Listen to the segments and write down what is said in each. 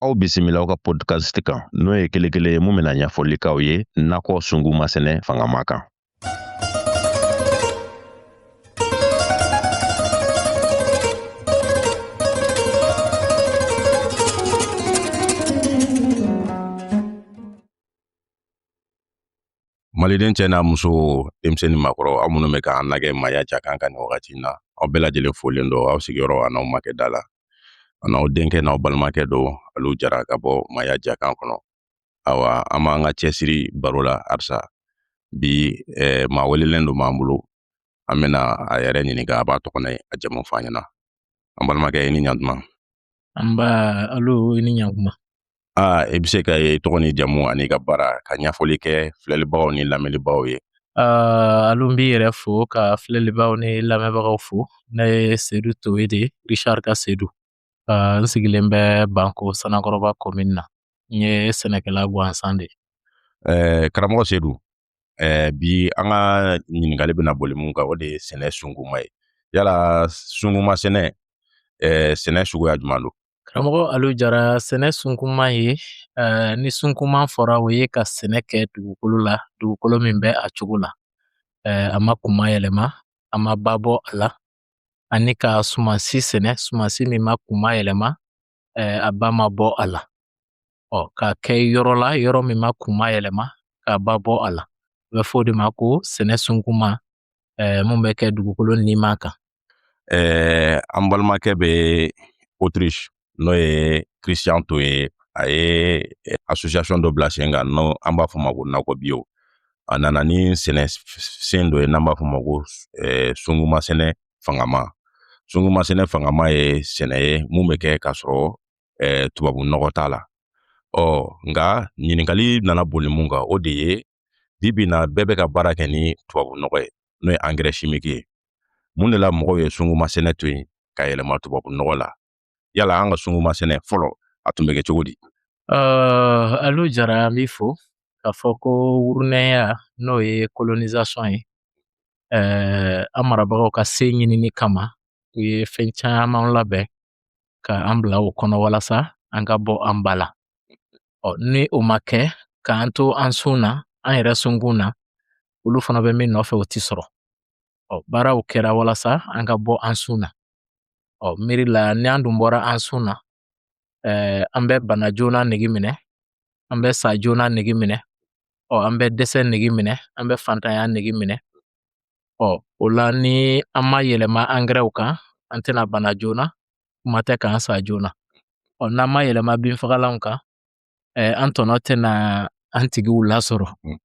aw bisimila aw ka podcast kan n'o ye kelen kelen ye mun bɛna ɲɛfɔli k'aw ye nakɔ sunkunma sɛnɛ fangama kan maliden cɛ n'a muso denmisɛn ni makɔrɔ aw minnu bɛ k'an lajɛ maaya jakan kan nin wagati in na aw bɛɛ lajɛlen folen don aw sigiyɔrɔ a n'aw makɛ da la a n'aw denkɛ n'aw balimakɛ don alu jara ka bɔ maaya jakan kɔnɔ awa an b'an ka cɛsiri baro la halisa bi eh, maa welelen don b'an bolo an bɛna a yɛrɛ ɲininka a b'a tɔgɔ n'a jamu fɔ an ɲɛna an balimakɛ i ni ɲantuma nba alu i ni ɲantuma Aa i bɛ se ka e tɔgɔ ni jamu an'i ka baara ka ɲɛfɔli kɛ filɛlibagaw ni lamɛnlibagaw ye alu n b'i yɛrɛ fo ka filɛlibagaw ni lamɛnbagaw fo ne ye sedu towe de rishari ka sedu n sigilen bɛ banko sanankɔrɔba commune na n ye sɛnɛkɛla gansan de ye karamɔgɔ sedu ɛɛ bi an ka ɲininkali bɛna boli mun kan o de ye sɛnɛ sunkunma ye yala sunkunma sɛnɛ ɛɛ sɛnɛ suguya jumɛn don karamɔgɔ alu jara sɛnɛ sunkunma ye ɛɛ ni sunkunma fɔra o ye ka sɛnɛ kɛ dugukolo la dugukolo min bɛ a cogo la ɛɛ a ma kunma yɛlɛma a ma ba bɔ a la ani ka sumansi sɛnɛ sumansi min ma kunma yɛlɛma eh, a ba ma bɔ a la ɔ k'a kɛ yɔrɔ la yɔrɔ min ma kunma yɛlɛma k'a ba bɔ a la a bɛ fɔ o de ma ko sɛnɛ sunkunma eh, mun bɛ kɛ dugukolo nima kan eh, an balimakɛ bɛ autriche n'o ye christian towe a ye eh, association dɔ bila sen kan n'o an b'a fɔ ma ko nakɔ biyo a nana ni sɛnɛ sen dɔ ye n'an b'a fɔ ma ko eh, sunkunma sɛnɛ fangama sunkunma sɛnɛ fangama ye sɛnɛ ye mun bɛ kɛ k'a sɔrɔ eh, tubabu nɔgɔ t'a la ɔ nka ɲininkali nana boli mun kan o de ye bi bi na bɛɛ bɛ ka baara kɛ ni tubabu nɔgɔ ye n'o ye angɛrɛ shimiki ye mun de la mɔgɔw ye sunkunma sɛnɛ to yen ka yɛlɛma tubabu nɔgɔ la yala an ka sunkunma sɛnɛ fɔlɔ a tun bɛ kɛ cogo di alu jara an b'i fo k'a fɔ ko wurunɛya n'o ye kolonisasɔn ye an marabagaw ka se ɲinini kama u ye fɛn caman labɛn ka an bila o kɔnɔ walasa an ka bɔ an ba la ɔ ni o ma kɛ k'an to an sun na an yɛrɛ sunkun na olu fana bɛ min nɔfɛ o ti sɔrɔ ɔ baaraw kɛra walasa an ka bɔ an sun na ɔ miiri la ni an dun bɔra an sun na ɛɛ an bɛ bana joona nege minɛ an bɛ sa joona nege minɛ ɔ an bɛ dɛsɛ nege minɛ an bɛ fantanya nege minɛ ɔ o la ni an ma yɛlɛma angɛrɛw kan an tɛna bana joona kuma tɛ k'an sa joona ɔ n'an ma yɛlɛma binfagalanw kan eh, an tɔnɔ tɛna an tigiw lasɔrɔ mm.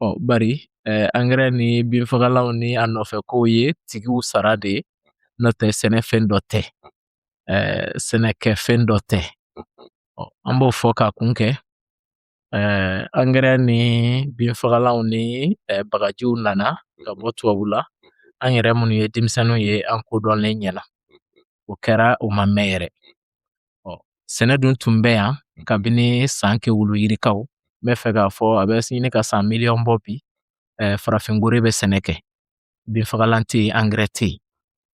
ɔ bari eh, angɛrɛ ni binfagalanw ni a nɔfɛ kow ye tigiw sara de ye n'o tɛ sɛnɛfɛn dɔ tɛ eh, sɛnɛkɛfɛn dɔ tɛ ɔ an b'o fɔ ka kun kɛ eh, angɛrɛ ni binfagalanw ni eh, bagajiw nana ka bɔ tubabu la an yɛrɛ minnu ye denmisɛnninw ye an kodɔnlen ɲɛna o kɛra o ma mɛn yɛrɛ ɔ sɛnɛ dun tun bɛ yan kabini san kɛwulu yirikaw n bɛ fɛ k'a fɔ a bɛ ɲini ka san miliyɔn bɔ bi eh, farafin gore bɛ sɛnɛ kɛ binfagalan tɛ yen angɛrɛ tɛ yen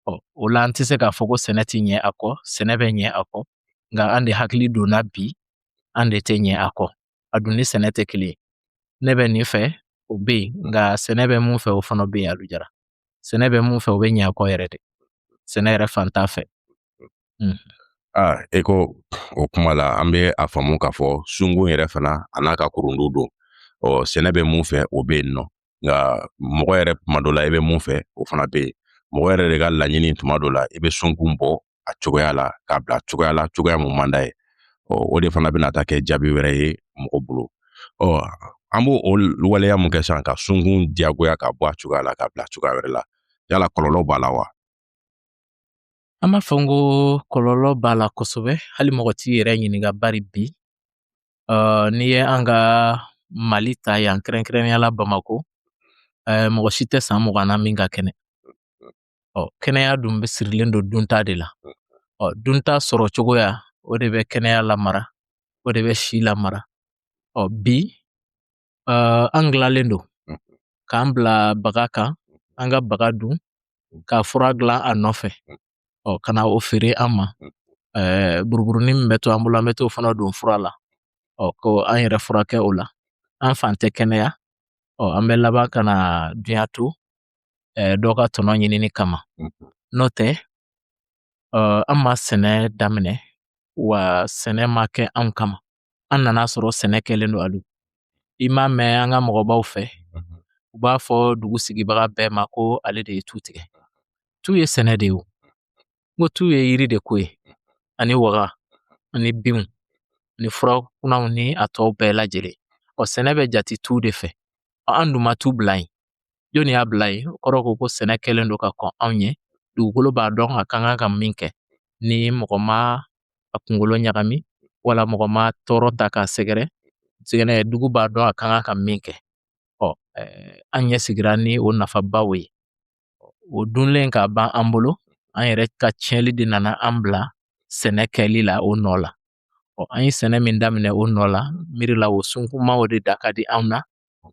ɔ o la an tɛ se k'a fɔ ko sɛnɛ tɛ ɲɛ a kɔ sɛnɛ bɛ ɲɛ a kɔ nka an de hakili donna bi an de tɛ ɲɛ a kɔ an dun ni sɛnɛ tɛ kelen ye ne bɛ nin fɛ o bɛ yen nka sɛnɛ bɛ mun fɛ o fana bɛ yen alu jara sɛnɛ bɛ mun fɛ o bɛ ɲɛ a kɔ yɛrɛ de sɛnɛ yɛrɛ fan t'a fɛ aa e ko o kuma la an bɛ a faamu k'a fɔ sunkun yɛrɛ fana a n'a ka kurundu don ɔ sɛnɛ bɛ mun fɛ o bɛ yen nɔ nka mɔgɔ yɛrɛ tuma dɔ la i bɛ mun fɛ o fana bɛ yen mɔgɔ yɛrɛ de ka laɲini tuma dɔ la i bɛ sunkun bɔ a cogoya la k'a bila cogoya la cogoya mun man d'a ye ɔ o de fana bɛna taa kɛ jaabi wɛrɛ ye mɔgɔ bolo ɔ an b'o o waleya mun kɛ sisan ka sunkun diyagoya ka bɔ a cogoya la k'a bila cogoya wɛrɛ la yala kɔlɔlɔ b'a la wa An b'a fɔ n ko kɔlɔlɔ b'a la kosɛbɛ hali mɔgɔ t'i yɛrɛ ɲininka bari bi uh, n'i ye an ka mali ta yan kɛrɛnkɛrɛnnenya la bamako uh, mɔgɔ si tɛ san mugan na min ka kɛnɛ ɔ kɛnɛya dun bɛ sirilen don dunta de la ɔ dunta sɔrɔ cogoya o de bɛ kɛnɛya lamara o de bɛ si lamara ɔ bi an gilalen don k'an bila baga kan an ka baga dun ka fura dilan a nɔfɛ ɔ ka na o feere an ma buruburunin min bɛ to an bolo an bɛ t'o fana don fura la ɔ ko an yɛrɛ furakɛ o la an fan tɛ kɛnɛya ɔ an bɛ laban ka na dunya to dɔ ka tɔnɔ ɲinini kama n'o tɛ an ma sɛnɛ daminɛ wa sɛnɛ ma kɛ anw kama an nana sɔrɔ sɛnɛ kɛlen don alu i m'a mɛn an ka mɔgɔbaw fɛ u b'a fɔ dugu sigibaga bɛɛ ma ko ale de ye tu tigɛ tu ye sɛnɛ de ye o ko tu ye yiri de ko ye ani waga ani binw ni fura kunanw ni a tɔw bɛɛ lajɛlen ɔ sɛnɛ bɛ jate tu de fɛ ɔ an dun ma tu bila yen Jɔnni y'a bila yen o kɔrɔ ko ko sɛnɛ kɛlen don ka kɔn anw ɲɛ dugukolo b'a dɔn a kan ka min kɛ ni mɔgɔ ma a kunkolo ɲagami wala mɔgɔ ma tɔɔrɔ ta k'a sɛgɛrɛ sɛgɛrɛ dugu b'a dɔn a kan ka min kɛ ɔ an ɲɛ sigira ni o nafabaw ye o dunlen ka ban an bolo an yɛrɛ ka tiɲɛli de nana an bila sɛnɛ kɛli la o nɔ la ɔ an ye sɛnɛ min daminɛ o nɔ la miiri la o sunkumaw de da ka di anw na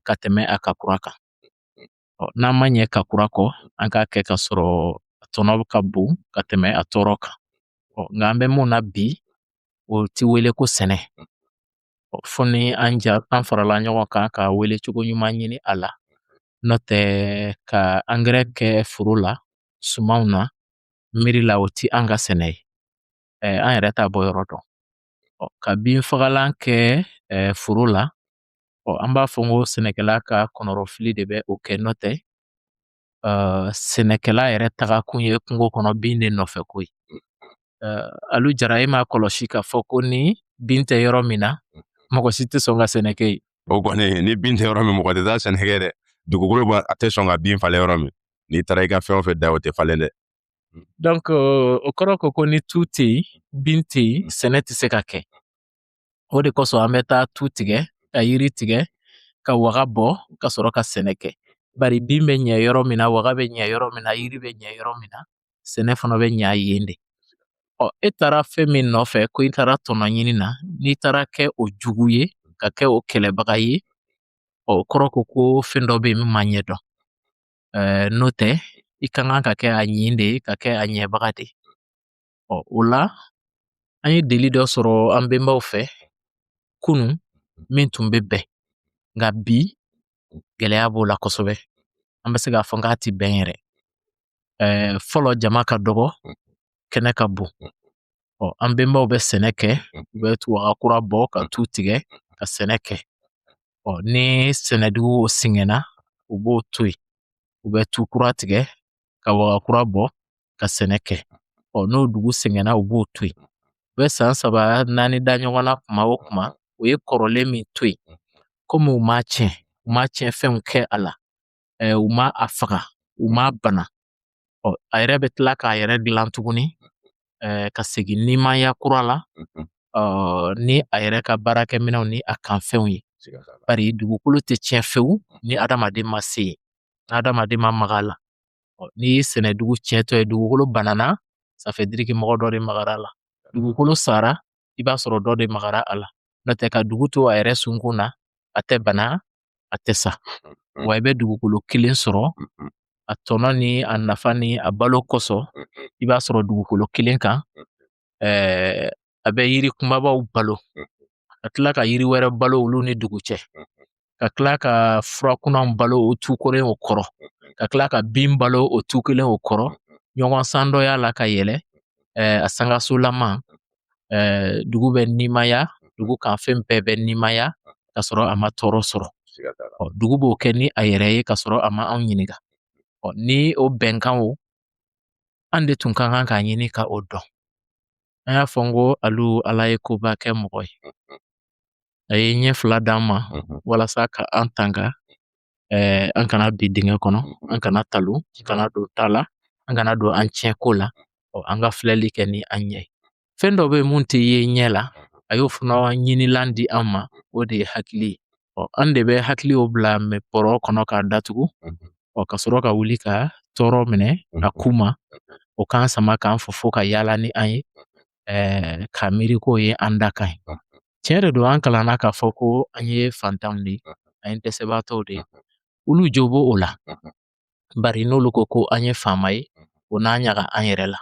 ka tɛmɛ a ka kura kan ɔ n'an ma ɲɛ ka kura kɔ an k'a kɛ ka sɔrɔ a tɔnɔ ka bon ka tɛmɛ a tɔɔrɔ kan ɔ nka an bɛ mun na bi o ti wele ko sɛnɛ ɔ fo ni an ja an farala ɲɔgɔn kan ka welecogo ɲuman ɲini a la n'o tɛ ka angɛrɛ kɛ foro la sumanw na miiri la o ti an ka sɛnɛ ye an yɛrɛ t'a bɔyɔrɔ dɔn ka binfagalan kɛ foro la Ɔ an b'a fɔ ko sɛnɛkɛla ka kɔnɔrɔfili de bɛ o kɛ n'o tɛ uh, sɛnɛkɛla yɛrɛ taga kun ye kungo kɔnɔ bin de nɔfɛko ye uh, Alu Jara e m'a kɔlɔsi k'a fɔ ko ni bin tɛ yɔrɔ min na mɔgɔ si tɛ sɔn ka sɛnɛ kɛ yen o kɔni ni bin tɛ yɔrɔ min mɔgɔ tɛ taa sɛnɛ kɛ dɛ dugukolo b'a a tɛ sɔn ka bin falen yɔrɔ min n'i taara i ka fɛn o fɛn da o tɛ falen dɛ donc o kɔrɔ ko ko ni tu tɛ yen bin tɛ yen sɛnɛ tɛ se ka kɛ O de kosɔn an bɛ taa tu tigɛ ka yiri tigɛ ka waga bɔ ka sɔrɔ ka sɛnɛ kɛ bari bin bɛ ɲɛ yɔrɔ min na waga bɛ ɲɛ yɔrɔ min na yiri bɛ ɲɛ yɔrɔ min na sɛnɛ fana bɛ ɲɛ yen de ɔ e taara fɛn min nɔfɛ ko i taara tɔnɔ ɲini na n'i taara kɛ o jugu ye ka kɛ o kɛlɛbaga ye ɔ o kɔrɔ ko ko fɛn dɔ bɛ yen min ma ɲɛdɔn n'o tɛ i ka kan ka kɛ a ɲin de ye ka kɛ a ɲɛbaga de ye Ɔ o la an ye deli dɔ sɔrɔ an bɛnbaw fɛ kunun min tun bɛ bɛn nka bi gɛlɛya b'o la kosɛbɛ an bɛ se k'a fɔ k'a ti bɛn yɛrɛ ɛɛ fɔlɔ jama ka dɔgɔ kɛnɛ ka bon ɔ an bɛnbaw bɛ sɛnɛ kɛ u bɛ tu waga kura bɔ ka tu tigɛ ka sɛnɛ kɛ ɔ ni sɛnɛdugu sɛgɛnna u b'o to yen u bɛ tu kura tigɛ ka waga kura bɔ ka sɛnɛ kɛ ɔ n'o dugu sɛgɛnna u b'o to yen u bɛ san saba naani da ɲɔgɔn na kuma o kuma u ye kɔrɔlen min to yen komi u ma tiɲɛ u ma tiɲɛfɛnw kɛ a la ɛɛ u ma a faga u m'a bana ɔ a yɛrɛ bɛ tila k'a yɛrɛ dilan tuguni ɛɛ ka segin nimaya kura la ɔ ni a yɛrɛ ka baarakɛminɛnw ni a kanfɛnw ye bari dugukolo tɛ tiɲɛ fewu ni adamaden ma se yen adamaden ma maga a la n'i ye sɛnɛ dugu tiɲɛtɔ ye dugukolo banana ça veut dire que mɔgɔ dɔ de magara a la dugukolo sara i b'a sɔrɔ dɔ de magara a la n'o tɛ ka dugu to a yɛrɛ sunkun na a tɛ bana a tɛ sa wa i bɛ dugukolo kelen sɔrɔ a tɔnɔ ni a nafa ni a balo kosɔn i b'a sɔrɔ dugukolo kelen kan ɛɛ a bɛ yiri kumabaw balo ka tila ka yiri wɛrɛ balo olu ni dugu cɛ ka tila ka fura kunanw balo o tu kelen o kɔrɔ ka tila ka bin balo o tu kelen o kɔrɔ ɲɔgɔn san dɔ y'a la ka yɛlɛ ɛɛ a sangasolama ɛɛ dugu bɛ nimaya dugu kan fɛn bɛɛ bɛ nimaya ka sɔrɔ a ma tɔɔrɔ sɔrɔ dugu b'o kɛ ni a yɛrɛ ye ka sɔrɔ a ma anw ɲininka ni o bɛnkanw an de tun ka kan k'a ɲini ka o dɔn an y'a fɔ n ko alu ala ye koba kɛ mɔgɔ ye a ye ɲɛ fila d'an ma walasa ka an tanga eh, an kana bi dingɛ kɔnɔ an kana talon an kana don ta la an kana don an tiɲɛ ko la ɔ an ka filɛli kɛ ni an ɲɛ ye fɛn dɔ bɛ yen mun tɛ ye ɲɛ la a y'o fana ɲinilan di an ma o de ye hakili ye ɔ an de bɛ hakili o bila bɔrɔ kɔnɔ k'a datugu ɔ ka sɔrɔ ka wuli ka tɔɔrɔ minɛ a ku ma o k'an sama k'an fofo ka yaala ni an ye ɛɛ ka miiri k'o ye an dakan ye tiɲɛ de don an kalanna k'a fɔ ko an ye fantanw de ye an ye dɛsɛbaatɔw de ye olu jo b'o la bari n'olu ko ko an ye faama ye o n'an ɲaga an yɛrɛ la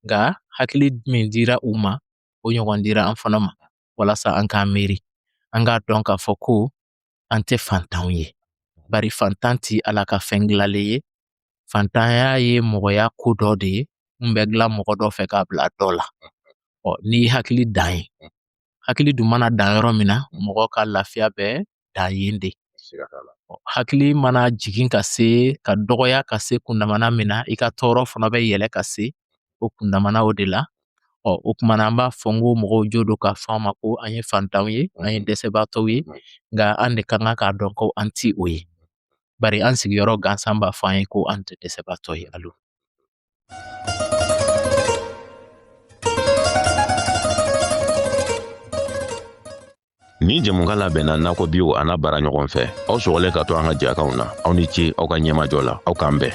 nka hakili min dira u ma o ɲɔgɔn dira an fana ma walasa an k'an miiri an k'a dɔn k'a fɔ ko an tɛ fantanw ye bari fantan ti ala ka fɛn dilalen ye fantanya ye mɔgɔya ko dɔ de ye min bɛ dilan mɔgɔ dɔ fɛ k'a bila dɔ la ɔ ni hakili dan ye hakili dun mana dan yɔrɔ min na mɔgɔ ka lafiya bɛ dan yen de hakili mana jigin ka se ka dɔgɔya ka se kundamana min na i ka tɔɔrɔ fana bɛ yɛlɛ ka se o kundamana o de la ɔ o kuma na an b'a fɔ n ko mɔgɔw jo don k'a fɔ an ma ko an ye fantanw ye an ye dɛsɛbaatɔw ye nka an de ka kan k'a dɔn ko an ti o ye bari an sigiyɔrɔ gansan b'a fɔ an ye ko an tɛ dɛsɛbaatɔ ye alo Ni jɛmukan labɛnna nakɔ biw a n'a baaraɲɔgɔn fɛ aw sɔgɔlen ka to an ka jɛkanw na aw ni ce aw ka ɲɛmajɔ la aw k'an bɛn